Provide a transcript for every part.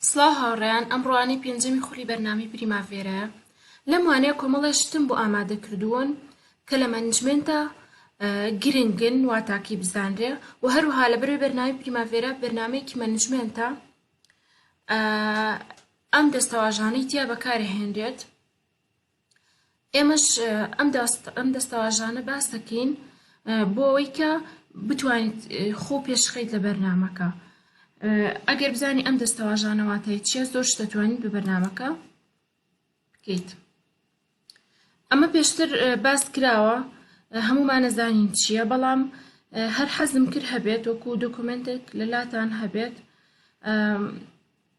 سڵاو هاوڕێیان ئەمڕۆ وانەی پێنجەمی خولی بەرنامەی پریماڤێرایە لەم وانەیە کۆمەڵێ شتم بۆ ئامادە کردوون کە لە مەنجمێنتە گرنگن واتاکی بزانرێ و هەروها لە بەروی بەرنامی پریماڤێرا بەرنمەیەکی مەنجمێنتە ئەم دەستەواژانەی تیا بەکارهێنرێت ئێمەش ئەم دەستەواژانە باس دەکەین بۆ ئەوەی کە بتوانیت خۆ پێشخەیت لە بەرنمەکە ئەگەر بزانانی ئەم دەستەواژانەواتای چیە زۆر دەتوانیت بە بەرنمەکە بکەیت ئەمە پێشتر باس کراوە هەمومان نەزانین چییە بەڵام هەر حەزم کرد هەبێت وەکو دۆکمنتێک لەلاتان هەبێت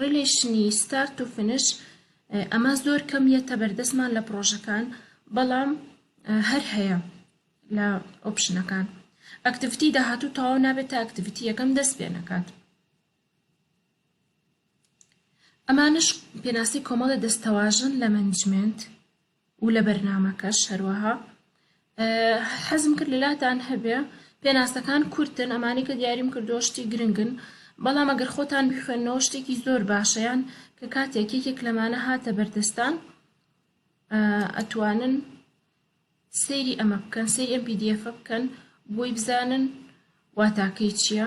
ڕیلەیشنی ستارت و فنش ئەمە زۆر کەم یەتە بەردەستمان لە پرۆژەکان بەڵام هەر هەیە لە ئۆپشنەکان ئەکتیڤتی داهاتوو تەواو نابێت تا ئەکتیڤتی یەکەم دەست پێ نەکات ئەمانش پێناسی کۆمەڵە دەستەواژن لە منجمنت و لە بەرنامەکەش هەروەها حەزم کرد لەلاتان هەبێ پێناسەکان کورتن ئەمانی کە دیاریم کردو شتی گرنگن بەڵام ئەگەر خۆتان بخوێنەوە شتێکی زۆر باشەیان کە کاتێک یەکێک لەمانە هاتە بەردەستان ئەتوانن سەیری ئەمە بکەن سەیری ئەم پیدیفە بکەن بۆی بزانن واتاکەی چییە؟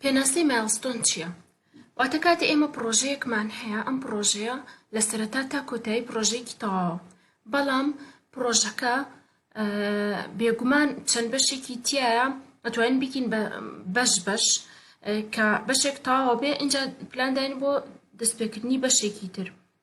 پێناسەی مایڵستۆن چییە؟ واتە کاتێ ئێمە پڕۆژەیەکمان هەیە ئەم پڕۆژەیە لە سەرەتا تا کۆتایی پڕۆژەیەکی تەواوە بەڵام پڕۆژەکە بێگومان چەند بەشێکی تایە ئەتوانین بکین بە بەش بەش کە بەشێک تەواوە بێ اینجا پلانداین بۆ دەستپێکردنی بەشێکی تر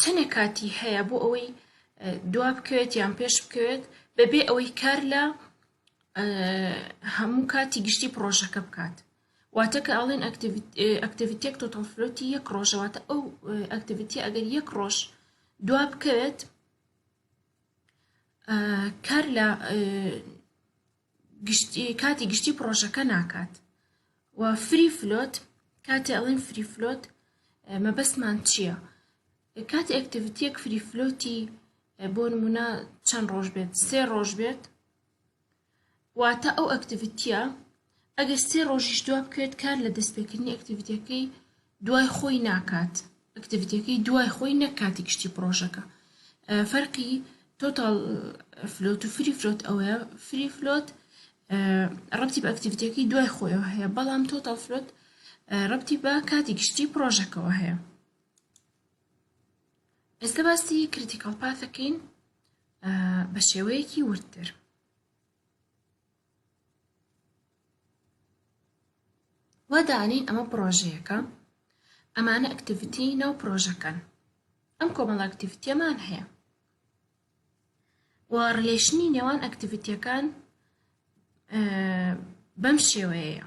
چەنێک کاتی هەیە بۆ ئەوەی دوا بکەوێت یان پێش بکەوێت بەبێ ئەوەی کار لە هەموو کاتی گشتی پرۆژەکە بکات واتە کە ئاڵێن ئەکتیڤیتێک تۆتەڵفلۆتی یەک ڕۆژەواتە ئەو ئەکتیڤیتی ئەگەر یەک ڕۆژ دوا بکەوێت کار لە گشتی کاتی گشتی پڕۆژەکە ناکات و فری فلۆت کاتێ ئەڵین فری فلۆت مەبەستمان چییە کاتی ئەکتیڤتیەک فری فلۆتی بۆ نمونە چەند ڕۆژ بێت سێ ڕۆژ بێت واتە ئەو ئەکتیڤتیە ئەگەر سێ ڕۆژیش دوا بکەوێت کار لە دەستپێکردنی ئەکتیڤتەکەی دوای خۆی ناکات ئەکتیڤیتیەکەی دوای خۆی نەک کاتی گشتی پڕۆژەکە فەرقی تۆتاڵ فلۆت و فری فلۆت ئەوەیە فری فلۆت ڕەتی بە ئەکتیڤیتیەکەی دوای خۆیەوە هەیە بەڵام تۆتاڵ فلۆت ڕەتی بە کاتی گشتی پرۆژەکەەوە هەیە ئێستا باسی کریتیکال پاتەکەین بە شێوەیەکی وردتر وا دانێین ئەمە پڕۆژەیەکە ئەمانە ئەکتیڤیتی ناو پڕۆژەکەن ئەم کۆمەڵە ئەکتیڤیتیەمان هەیە و ڕلێشنی نێوان ئەکتیڤیتیەکان بەم شێوەیە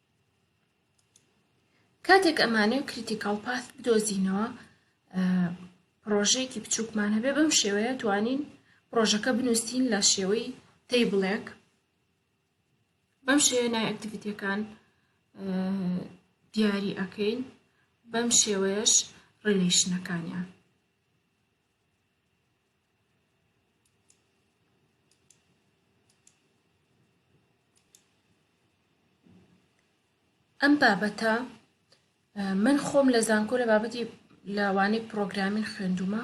کاتێک ئەمانەوێت کریتیکاڵ پاس بدۆزینەوە پرۆژەیەکی بچووکمان هەبێ بەم شێوەیە توانین پرۆژەکە بنووسین لە شێوەی تەیبڵێک بەم شێوە نای ئەکتیڤیتەکان دیاری ئەەکەین بەم شێوەیەش ڕێلیشنەکانیان ئەم بابەتە من خۆم لە زانکۆ لە بابەتی لەوانەی پرۆگرامین خوێندومە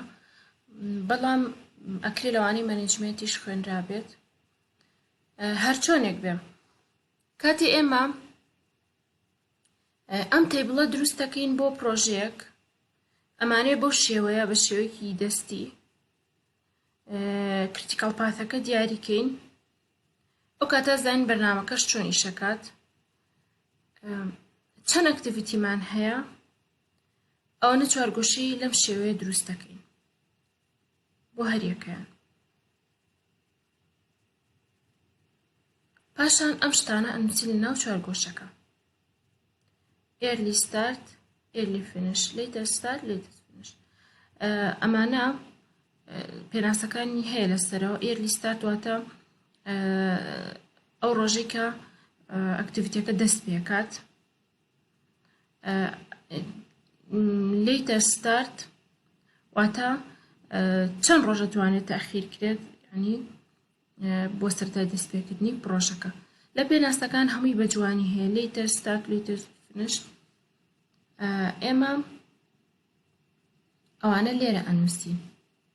بەڵام ئەکرێ لەوانەی مەنجمنتیش خوێنرابێت هەرچۆنێک بێ کاتی ئێمە ئەم تەیبڵە دروست دەکەین بۆ پرۆژەیەک ئەمانەیە بەو شێوەیە بە شێوەیەکی دەستی کریتیکال پاتەکە دیاریکەین ئەو کاتە زین بەرنمەکەش چۆن ئیشەکات چەند ئەکتیڤیتیمان هەیە ئەوەنە چوارگۆشەی لەم شێوەیە دروست دەکەین بۆ هەریەکەیان پاشان ئەم شتانە ئەنووسین لە ناو چوارگۆشەکە ئێرلی ستارت ئێرلی فینش لیتر ستارت لیتر فینش ئەمانە پێناسەکانی هەیە لەسەرەوە ئێرلی ستارت واتە ئەو ڕۆژێکە ئەکتیڤیتەکە دەست پێکات لیتە ستارت واتە چەند ڕۆژە توانێت تاخیر کرێت ینی بۆ سەرای دەستپێکردنی پرۆژەکە لە پێناسەکان هەمووی بە جوانی هەیە لیتە ستارت لیتە فنش ئێمە ئەوانە لێرە ئەنووسی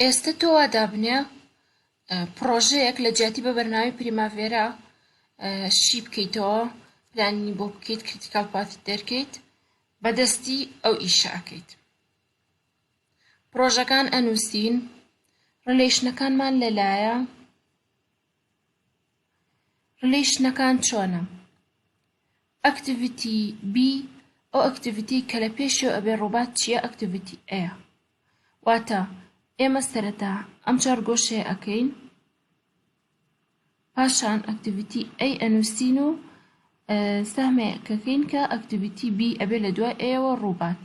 ئێستە تۆ وا دابنێ پڕۆژەیەک لە جیاتی بە بەرنامی پریماڤێرا شی بکەیتەوە پلانی بۆ بکەیت کریتیکال پاتی دەرکەیت بەدەستی ئەو ئیشەکەیت پرۆژەکان ئەنووسین ڕلەیشنەکانمان لەلایە ڕلیشنەکان چۆنە؟ ئەکتڤیتی بی ئەو ئەکتڤیتیەی کە لە پێشیەوە ئەبێ ڕووبات چیە ئەکتڤیتی ئەیە واتە ئێمە سەرەتا ئەم چوار گۆشەیە ئەکەین پاشان ئەکتڤیتی ئەی ئەنووسین و سەهمێکەکەین کە ئەکتڤیتی بی ئەبێ لە دوای ئەیەوە ڕووبات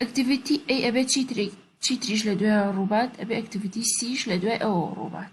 ئەکتڤیتی ئەی ئەبێ چیترێک چیتریش لە دوای ڕووبات ئەبێ ئەکتڤیتی سیش لە دوای ئەوە ڕووبات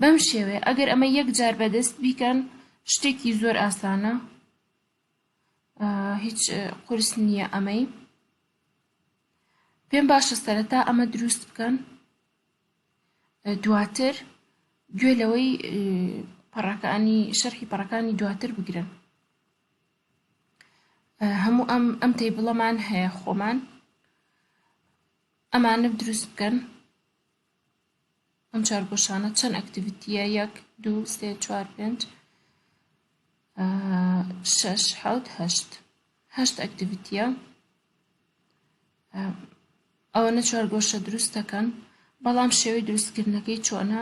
بەم شێوەیە ئەگەر ئەمە یەک جار بەدەست بیکەن شتێکی زۆر ئاسانە هیچ قرس نییە ئەمەی پێم باشە سەرەتا ئەمە دروست بکەن دواتر گوێ لەوەی پەڕەکانی شەرحی پەڕەکانی دواتر بگرن هەموو ئەم ئەم تەیبڵەمان هەیە خۆمان ئەمانە دروست بکەن ئەم چارگۆشانە چەند ئەکتیڤیتیە یەک دوو سێ چوار پێنج شش حوت هەشت هەشت ئەکتیڤیتیە ئەوەنە چوار گۆشە دروست دەکەن بەڵام شێوەی دروستکردنەکەی چۆنە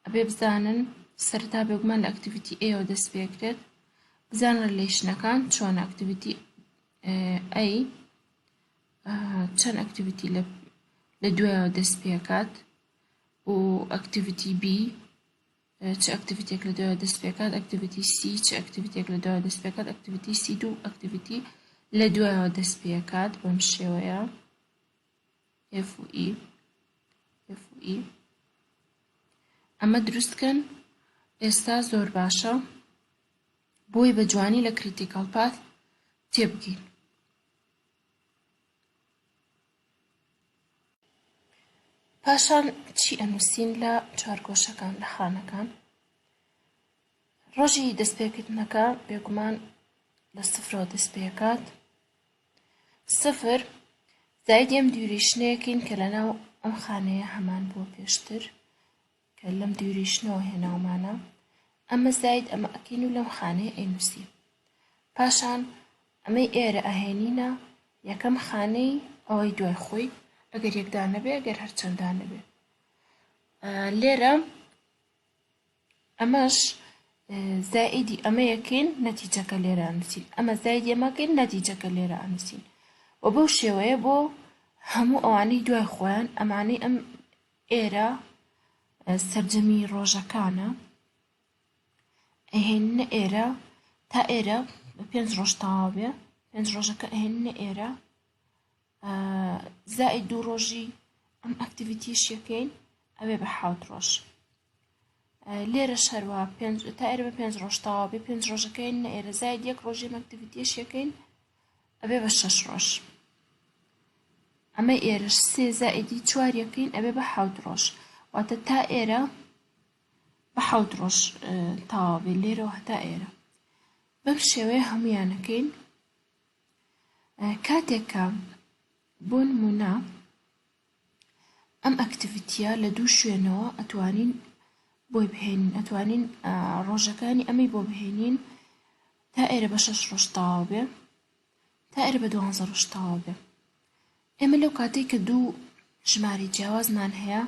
ئەبێ بزانن سەرتا بێگومان لە ئەکتیڤیتی ئەوە دەست پێکرێت بزان ڕلیشنەکان چۆن ئەکتیڤیتی ئەی چەند ئەکتیڤیتی لە لە دوایەوە دەست پێکات و ئەکتیڤیتی بی چ ئەکتیڤیتێک لە دوایەوە دەست پێکات ئەکتیڤیتی سی چ ئەکتیڤیتێک لە دوایەوە دەست پێکات ئەکتیڤیتی سی دوو ئەکتیڤیتی لە دوایەوە دەست پێکات بەم شێوەیە F و E F و E ئەمە دروستکەن ئێستا زۆر باشە بۆی بە جوانی لە کریتیکەڵ پات تێبگەین پاشان چی ئەنووسین لە چوارگۆشەکان لە خانەکان ڕۆژی دەستپێکردنەکە بێگومان لە سفرەوە دەست پێکات سفر زایدی ئەم دیوریشنەیەکین کە لەناو ئەم خانەیە هەمان بووە پێشتر کە لەم دیوریشنەوە هێناومانە، ئەمە زاید ئەمە ئەکەین و لەم خانەیە ئەینووسین. پاشان ئەمەی ئێرە ئەهێنینە یەکەم خانەی ئەوەی دوای خۆی، ئەگەر یەک دانە بێ، ئەگەر هەر چەند دانە بێ. لێرە ئەمەش زائیدی ئەمەیەکەین نەتیجەکە لێرە ئەنووسین ئەمە زایدی ئەمەکەین نەتیجەکە لێرە ئەنووسین و بەو شێوەیە بۆ هەموو ئەوانەی دوای خۆیان ئەمانەی ئەم ئێرە سەرجەمی ڕۆژەکانە ئەهێننە ئێرە تا ئێرە پێنج ڕۆژ تەواو بێ پێنج ڕۆژەکە ئەهێننە ئێرە زائد دوو ڕۆژی ئەم ئەکتیڤیتیش یەکەین ئەوێ بە حوت ڕۆژ لێرە شەروە تا ئێرە بە پێنج ڕۆژ تەواو بێ پێنج ڕۆژەکەین نە ئێرە زائد یەک ڕۆژی ئەکتیڤیتیش یەکەین ئەبێ بە شەش ڕۆژ ئەمە ئێرەش سێ زائیدی چوار یەکەین ئەبێ بە حەوت ڕۆژ واتە تا ئێرە بە حەوت ڕۆژ تاوا بێ لێرەوە هەتا ئێرە بەم شێوەیە هەمویانەکەین کاتێکە بۆ نمونە ئەم ئەکتیڤیتیە لە دوو شوێنەوە ئەتوانین بۆی بهێنین ئەتوانین ڕۆژەکانی ئەمەی بۆ بهێنین تا ئێرە بە شەش ڕۆژ تەواو بێ تا ئێرە بە دوانزە ڕۆژ تەواو بێ ئێمە لەو کاتێک کە دوو ژمارە جیاوازمان هەیە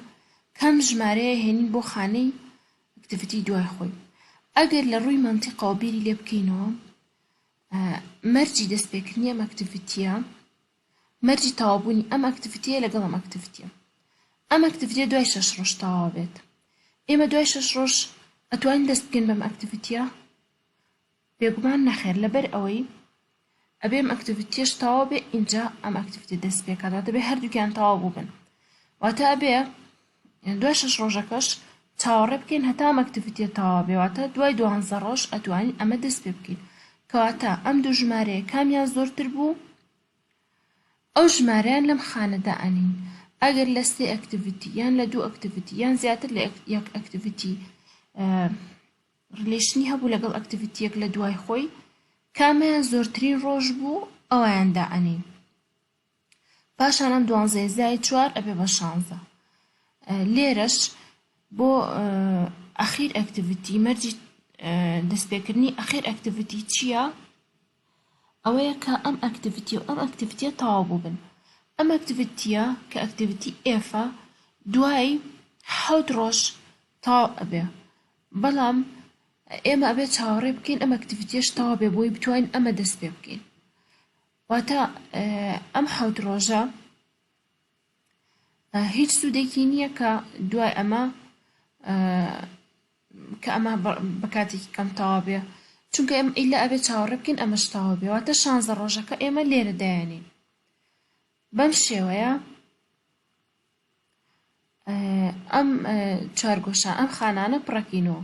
کەم ژمارەیە هێنین بۆ خانەی ئەکتیڤیتی دوای خۆی ئەگەر لە ڕووی مەنتیقەوە بیری لێ بکەینەوە مەرجی دەستپێکردنی ئەم ئەکتیڤیتیە مەرجی تەواوبوونی ئەم ئەکتیڤیتیە لەگەڵ ئەم ئەکتیڤیتیە ئەم ئەکتیڤیتیە دوای شەش ڕۆژ تەواو بێت ئێمە دوای شەش ڕۆژ ئەتوانین دەست بکەین بەم ئەکتیڤیتیە بێگومان نەخێر لەبەر ئەوەی ئەبێ ئەم ئەکتیڤیتیەش تەواو بێ ئینجا ئەم ئەکتیڤیتیە دەست پێکات واتە بێ هەردووکیان تەواو بووبن واتە ئەبێ دوای شەش ڕۆژەکەش چاوەڕێ بکەین هەتا ئەم ئەکتیڤیتیە تەواو بێ واتە دوای دوانزە ڕۆژ ئەتوانین ئەمە دەست پێ بکەین کەواتە ئەم دوو ژمارەیە کامیان زۆرتر بوو ئەو ژمارەیان لەم خانەدا ئەنین ئەگەر لە سێ ئەکتیڤیتی یان لە دوو ئەکتیڤیتی یان زیاتر لە یەک ئەکتیڤیتی ڕلیشنی هەبوو لەگەڵ ئەکتیڤیتیەک لە دوای خۆی کامیان زۆرترین ڕۆژ بوو ئەویاندا ئەنین پاشان ئەم دوانزەیە زائید چوار ئەبێ بە شانزە لێرەش بۆ ئەخیر ئەکتیڤیتی مەرجی دەستپێکردنی ئەخیر ئەکتیڤیتی چییە ئەوەیە کە ئەم ئەکتیڤیتی و ئەم ئەکتیڤیتە تەواو بووبن ئەم ئەکتیڤیتیە کە ئەکتیڤیتی ئێفە دوای حەوت ڕۆژ تەواو ئەبێ بەڵام ئێمە ئەبێ چاوەڕێ بکەین ئەم ئەکتیڤیتیش تەواو بێ بۆی بتوانین ئەمە دەست پێ بکەین واتە ئەم حەوت ڕۆژە هیچ سوودێکی نییە کە دوای ئەمە کە ئەمە بە کاتێکی کەم تەوا بێ چونکە ئەم ئیلا ئەبێ چاوەڕێ بکەین ئەمە شتاوە بێواتە شانزە ڕۆژەکە ئێمە لێرە دایانین بەم شێوەیە ئەم چوارگۆشە ئەم خانانە پڕەکینەوە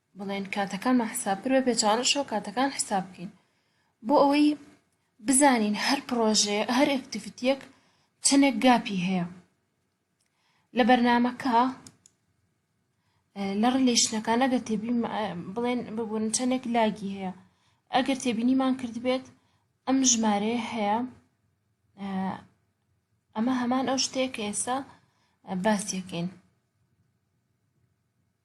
بڵێن کاتەکانمان حساب کرد بە پێچەوانەشەوە کاتەکان حساب بکەین بۆ ئەوەی بزانین هەر پڕۆژێ هەر ئەکتیڤیتیەک چەندێک گاپی هەیە لە بەرنمەکە لە ڕلیشنەکان ئەگەر تێبی بڵێن ببوون چەندێک لاگی هەیە ئەگەر تێبینیمان کردبێت ئەم ژمارەیە هەیە ئەمە هەمان ئەو شتێک ئێستا باسیەکەین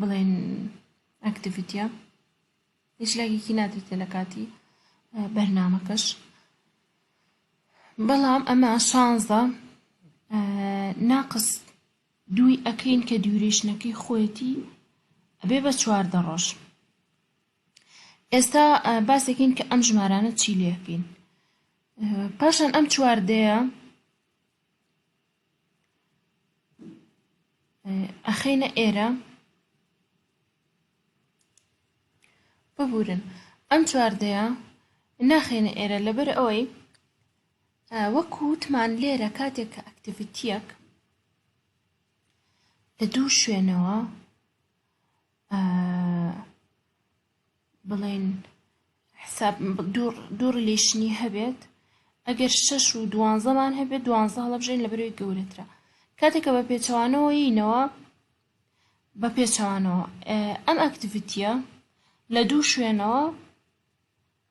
بڵێن ئەکتیڤیتیە هیچ لایەکی نادرێتە لە کاتی بەرنامەکەش بەڵام ئەمە شانزە ناقس دووی ئەکەین کە دیورێشنەکەی خۆیەتی ئەبێ بە چواردە ڕۆژ ئێستا باسێکین کە ئەم ژمارانە چی لێکەین پاشان ئەم چواردەیە ئەخەینە ئێرە ببورن ئەم چواردەیە ناخێنە ئێرە لەبەر ئەوەی وەک وتمان لێرە کاتێک کە ئەکتیڤیتیەک لە دوو شوێنەوە بڵێن حساب دوو ڕلیشنی هەبێت ئەگەر شەش و دوانزەمان هەبێت دوانزە هەڵەبژێن لە بەرەوەی گەورەترە کاتێکە بە پێچەوانەوە یینەوە بە پێچەوانەوە ئەم ئەکتیڤتیە لە دوو شوێنەوە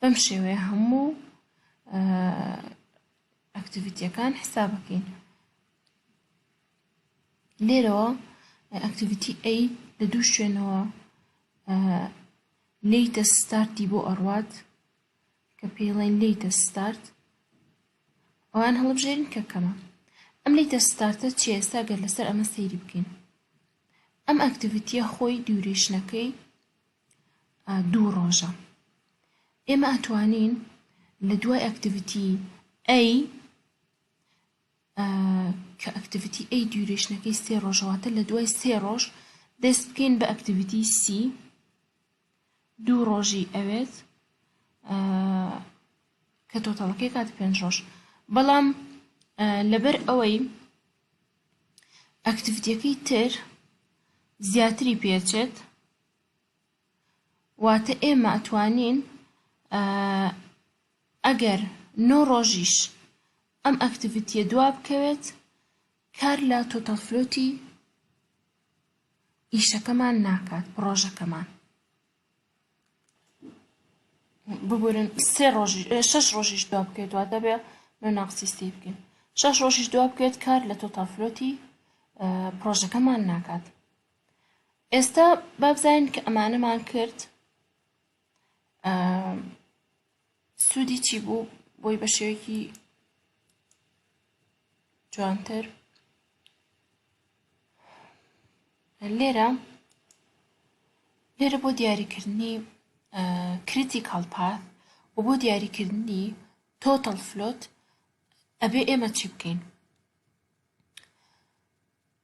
بەم شێوەیە هەموو ئەکتیڤیتیەکان حسابەکەین لێرەوە ئەکتیڤیتی ئەی لە دوو شوێنەوە لیتە ستارتی بۆ ئەڕوات کە پێڵێن لیتە ستارت ئەوان هەڵبژێرین کە کەمە ئەم لیتە ستارتە چی ئێستا گەر لەسەر ئەمە سەیری بکەین ئەم ئەکتیڤیتیە خۆی دیورێشنەکەی دوو ڕۆژە ئێمە ئەتوانین لە دوای ئەکتیڤیتی ئەی کە ئەکتیڤیتی ئەی دیورێشنەکەی سێ ڕۆژەواتە لە دوای سێ ڕۆژ دەست بکەین بە ئەکتیڤیتی سی دوو ڕۆژی ئەوێت کە تۆتەڵەکەی کات پێنج ڕۆژ بەڵام لەبەر ئەوەی ئەکتیڤیتەکەی تر زیاتری پێچێت واتە ئێمە ئەتوانین ئەگەر نۆ ڕۆژیش ئەم ئەکتیڤیتیە دوا بکەوێت کار لە تۆتەڵ فلۆتی ئیشەکەمان ناکات پڕۆژەکەمان ببورن سێ ڕۆژی شش ڕۆژیش دوا بکەێت دووا دەبێ نۆ ناقسی سی بکەین شش ڕۆژیش دوا بکەێت کار لە تۆتەڵ فلۆتی پرۆژەکەمان ناکات ئێستا با بزانین کە ئەمانەمان کرد سوودی چی بوو بۆی بە شێوەیەکی جوانتر لێرە لێرە بۆ دیاریکردنی کریتیکال پاث و بۆ دیاریکردنی تۆتەڵ فلۆت ئەبێ ئێمە چی بکەین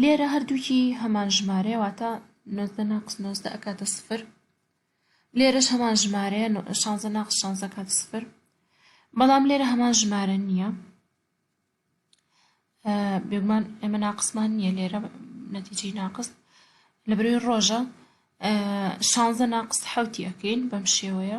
لێرە هەردووکی هەمان ژمارەیە واتە نۆزدە ناقس نۆزدە ئەکاتە سفر لێرەش هەمان ژمارەیە شانزە ناقس شانزە کات سفر بەڵام لێرە هەمان ژمارە نییە بێگومان ئێمە ناقسمان نییە لێرە نەتیجی ناقس لە بروی ڕۆژە شانزە ناقس حوتی ئەەکەین بەم شێوەیە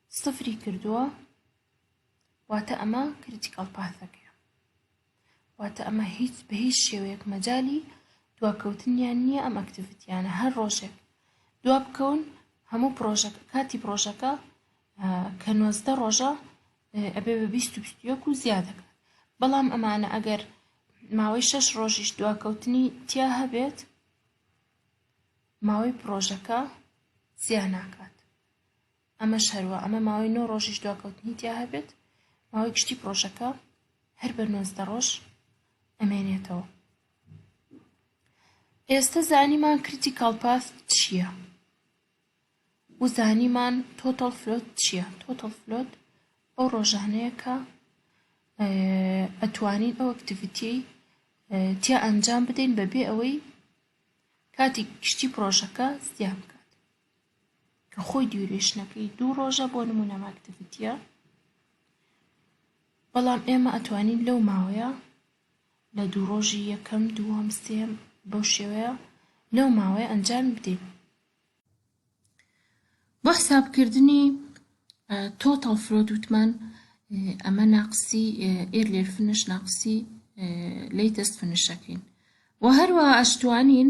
سفری کردووە واتە ئەمە کریتیکەڵ پاثەکەیە واتە ئەمە هیچ بە هیچ شێوەیەک مەجای دواکەوتنیان نییە ئەم ئەکتیڤیتیانە هەر ڕۆژێک دوا بکەون هەموو پرۆژەکە کاتی پرۆژەکە کە نۆزدە ڕۆژە ئەبێ بە بیست و بیستیەک و زیادەکە بەڵام ئەمانە ئەگەر ماوەی شەش ڕۆژیش دواکەوتنی تیا هەبێت ماوەی پرۆژەکە زیاناکات ئەمەش هەروا ئەمە ماوەی نۆ ڕۆژیش دواکەوتنی تیا هەبێت ماوەی گشتی پرۆژەکە هەر بە نۆزدە ڕۆژ ئەمێنێتەوە ئێستا زانیمان کریتیکال پاس چییە و زانیمان تۆتەڵ فلۆت چییە تۆتەڵ فلۆت ئەو ڕۆژانەیە کە ئەتوانین ئەو ئەکتیڤیتی تیا ئەنجام بدەین بەبێ ئەوەی کاتی گشتی پرۆژەکە زیان بکات کە خۆی دیورێشنەکەی دوو ڕۆژە بۆ نمونە ئەم ئەکتیڤیتیە بەڵام ئێمە ئەتوانین لەو ماوەیە لە دوو ڕۆژی یەکەم دووەم سێم بەو شێوەیە لەو ماوەیە ئەنجام بدەین بۆ حسابکردنی تۆتەڵ فرۆد وتمان ئەمە ناقسی ئێر لێر فنش ناقسی لی دەست فنشەکەین و هەروە ئەشتوانین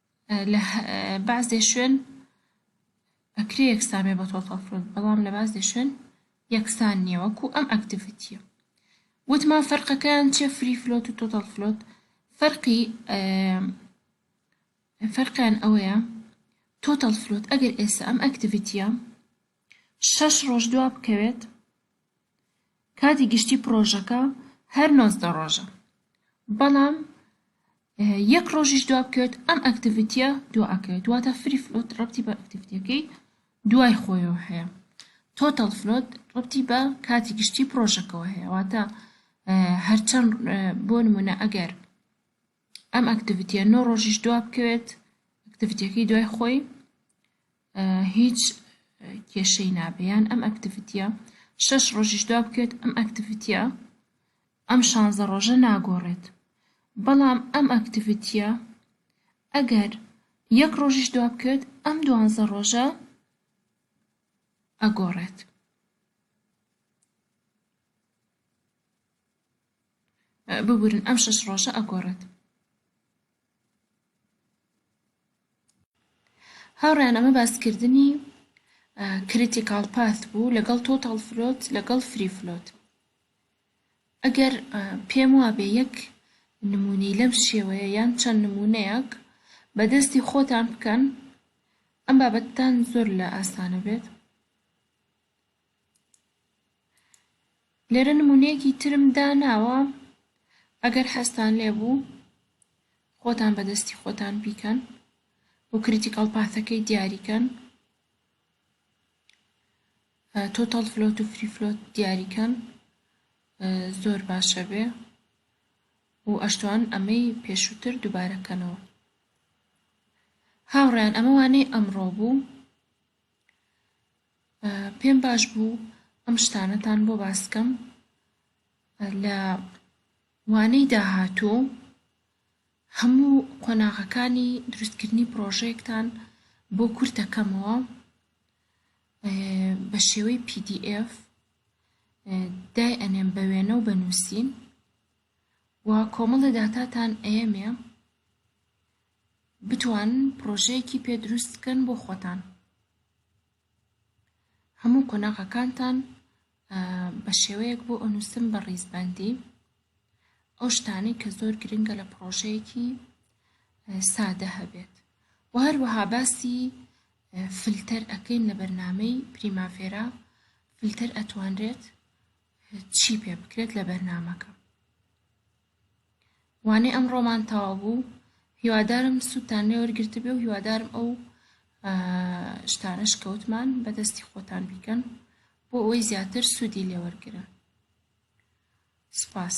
لە بەعزێ شوێن ئەکرێ یەکسان بێ بە تۆتاڵ فروت بەڵام لە بەعزێ شوێن یەکسان نییە وەکو ئەم ئەکتیڤیتیە وتمان فەرقەکەیان چیە فری فلۆت و تۆتاڵ فلۆت فەرقی فەرقیان ئەوەیە تۆتاڵ فلۆت ئەگەر ئێستا ئەم ئەکتیڤیتیە شەش ڕۆژ دوا بکەوێت کاتی گشتی پڕۆژەکە هەر نۆزدە ڕۆژە بەڵام یەک ڕۆژیش دوا بکەوێت ئەم ئەکتیڤیتیە دوا ئەکەوێت دواتە فری فلۆت ڕەتی بە ئەکتیڤیتەکەی دوای خۆیەوە هەیە تۆتەڵ فلۆت ڕەتی بە کاتی گشتی پرۆژەکەەوە هەیە واتە هەرچەند بۆ نمونە ئەگەر ئەم ئەکتیڤیتە نۆ ڕۆژیش دوا بکەوێت ئەکتیڤیتەکەی دوای خۆی هیچ کێشەی نابێ یان ئەم ئەکتیڤیتیە شەش ڕۆژیش دوا بکەوێت ئەم ئەکتیڤیتیە ئەم شانزە ڕۆژە ناگۆڕێت بەڵام ئەم ئەکتیڤیتیە ئەگەر یەک ڕۆژیش دوا بکەوێت ئەم دوانزە ڕۆژە ئەگۆڕێت ببورن ئەم شەش ڕۆژە ئەگۆڕێت هاوڕێیان ئەمە باسکردنی کریتیکاڵ پاث بوو لەگەڵ تۆتاڵ فلۆت لەگەڵ فری فلۆت ئەگەر پێم وابێ یەک نمونەی لەم شێوەیە یان چەند نمونەیەک بەدەستی خۆتان بکەن ئەم بابەتتان زۆر لە ئاسانە بێت لێرە نمونەیەکی ترم داناوە ئەگەر حەزتان لێبوو خۆتان بەدەستی خۆتان بیکەن و کریتیکەڵ پاثەکەی دیاریکەن تۆتەڵ فلۆت و فری فلۆت دیاریکەن زۆر باشە بێ و ئەشتوان ئەمەی پێشووتر دووبارەکەنەوە هاوڕیان ئەمە وانەی ئەمڕۆ بوو پێم باش بوو ئەم شتانەتان بۆ باس بکەم لە وانەی داهاتوو هەموو قۆناغەکانی دروستکردنی پڕۆژەیەکتان بۆ کورت دەکەمەوە بە شێوەی پی دی ئێف دای ئەنێم بە وێنە و بە نووسین و کۆمەڵە داتاتان ئەیەمێ بتوانن پڕۆژەیەکی پێ دروست بکەن بۆ خۆتان هەموو قۆناغەکانتان بە شێوەیەک بۆ ئەنووسم بە ڕیزبەندی ئەو شتانەی کە زۆر گرنگە لە پڕۆژەیەکی سادە هەبێت و هەروەها باسی فلتەر ئەکەین لە بەرنمەی پریماڤێرا فلتەر ئەتوانرێت چی پێ بکرێت لە بەرنمەکە وانەی ئەمڕۆمان تەواو بوو هیوادارم سوودتان لێ وەرگرتبێ و هیوادارم ئەو شتانەش کەوتمان بەدەستی خۆتان بیکەن بۆ ئەوەی زیاتر سوودی لێ وەرگرن سپاس